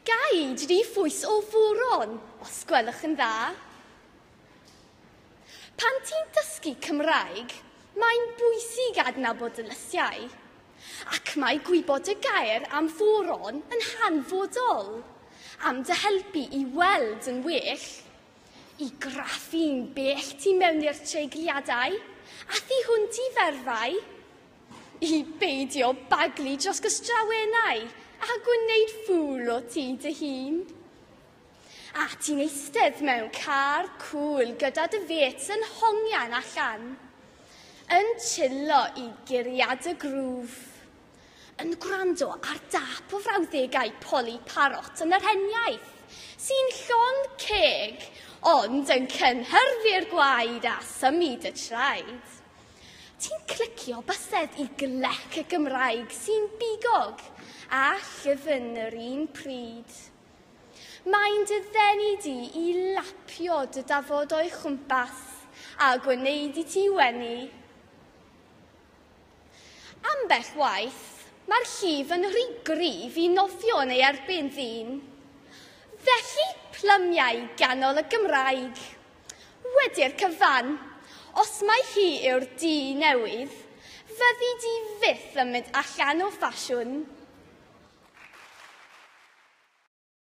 Gai dri phwys o furon, os gwelwch yn dda? Pan ti'n dysgu Cymraeg, mae'n bwysig adnabod y lysiau, ac mae gwybod y gair am furon yn hanfodol am dy helpu i weld yn well, i graffu'n bell tu mewn i'r treigliadau, a thu hwnt i ferfau, I beidio baglu dros gystrawenau a gwneud ffŵl o ti dy hun. A ti'n eistedd mewn car cŵl gyda dy fêts yn hongian allan, yn chillo i guriad y grŵf, yn gwrando ar dâp o frawddegau Polly Parrot yn yr heniaith, sy'n llond ceg ond yn cynhyrfu'r gwaed a symud y traed. Ti'n clicio bysedd i glec y Gymraeg sy'n bigog a llyfn yr un pryd. Mae'n dy ddenu di i lapio dy dafod o'i chwmpas a gwneud i ti wenu. Ambell waith, mae'r llif yn rhy gryf i nofio yn ei erbyn ddyn. Felly, plymiau ganol y Gymraeg. Wedi'r cyfan, os mai hi yw'r du newydd, fyddi di fyth yn mynd allan o ffasiwn.